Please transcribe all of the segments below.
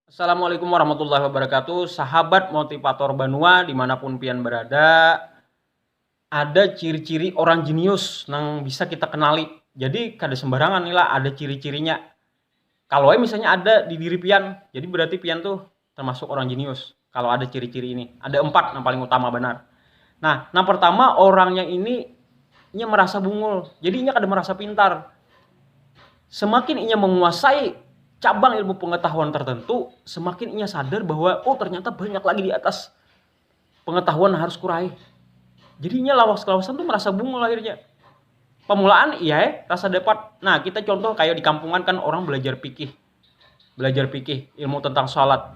Assalamualaikum warahmatullahi wabarakatuh Sahabat motivator banua dimanapun pian berada Ada ciri-ciri orang jenius nang bisa kita kenali Jadi kada sembarangan ni lah ada ciri-cirinya Kalo ai misalnya ada di diri pian jadi berarti pian tuh termasuk orang jenius Kalo ada ciri-ciri ini ada empat nang paling utama banar Nah nang pertama orangnya ini inya merasa bungul jadi inya kada merasa pintar. semakin inya menguasai cabang ilmu pengetahuan tertentu, semakin inya sadar bahwa oh ternyata banyak lagi di atas pengetahuan harus kuraih. Jadi inya lawas-lawasan tuh merasa bungul akhirnya. Pemulaan iya eh, rasa dapat. Nah, kita contoh kayak di kampungan kan orang belajar pikih. Belajar pikih, ilmu tentang salat.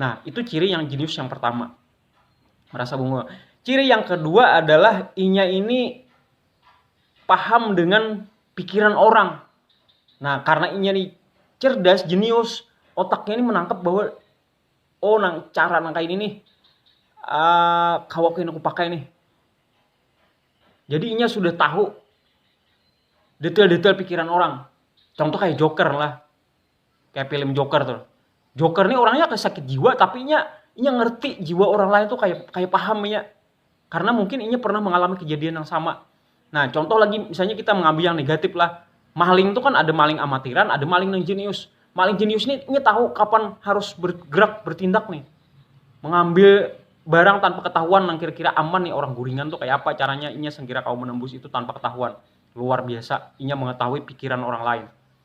Nah, itu ciri yang jenius yang pertama. Merasa bunga. Ciri yang kedua adalah inya ini paham dengan pikiran orang. Nah, karena inya ini cerdas, jenius, otaknya ini menangkap bahwa oh nang cara nang kayak ini nih uh, kawa aku aku pakai nih. Jadi inya sudah tahu detail-detail pikiran orang. Contoh kayak Joker lah. kayak film Joker tuh Joker nih orangnya kayak sakit jiwa tapi nya inya ngerti jiwa orang lain tuh kayak kayak paham ya karena mungkin inya pernah mengalami kejadian yang sama nah contoh lagi misalnya kita mengambil yang negatif lah maling tuh kan ada maling amatiran ada maling yang jenius maling jenius nih inya tahu kapan harus bergerak bertindak nih mengambil barang tanpa ketahuan yang kira-kira aman nih orang guringan tuh kayak apa caranya inya sengkira kau menembus itu tanpa ketahuan luar biasa inya mengetahui pikiran orang lain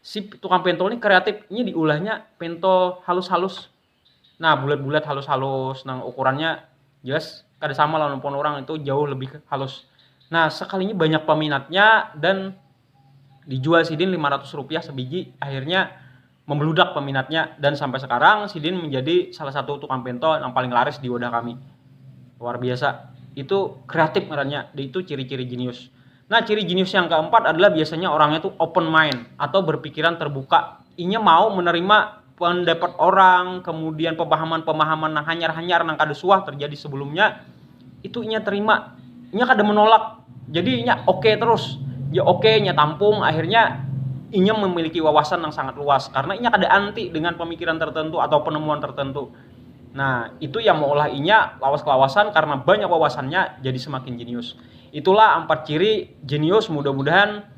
si tukang pentol ini kreatif ini diulahnya pentol halus-halus nah bulat-bulat halus-halus nang ukurannya jelas kada sama lawan pon orang itu jauh lebih halus nah sekalinya banyak peminatnya dan dijual sidin 500 rupiah sebiji akhirnya membeludak peminatnya dan sampai sekarang sidin menjadi salah satu tukang pentol yang paling laris di wadah kami luar biasa itu kreatif ngarannya itu ciri-ciri jenius Nah, ciri jenius yang keempat adalah biasanya orangnya tuh open mind atau berpikiran terbuka. Inya mau menerima pendapat orang, kemudian pemahaman-pemahaman nang hanyar-hanyar nang kada suah terjadi sebelumnya, itu inya terima. Inya kada menolak. Jadi inya oke okay terus. Inya oke, okay, inya tampung, akhirnya inya memiliki wawasan yang sangat luas karena inya kada anti dengan pemikiran tertentu atau penemuan tertentu. Nah, itu yang mengolah inya lawas-lawasan karena banyak wawasannya jadi semakin jenius. Itulah ampat ciri jenius mudah mudahan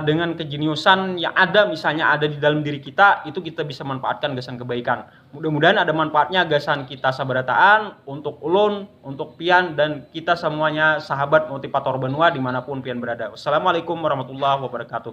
dengan kejeniusan yang ada misalnya ada di dalam diri kita itu kita bisa manfaatkan gasan kebaikan mudah mudahan ada manfaatnya gasan kita sabarataan untuk ulun untuk pian dan kita samuanya sahabat motivator banua dimanapun pian berada wassalamualaikum warahmatullahi wabarakatuh.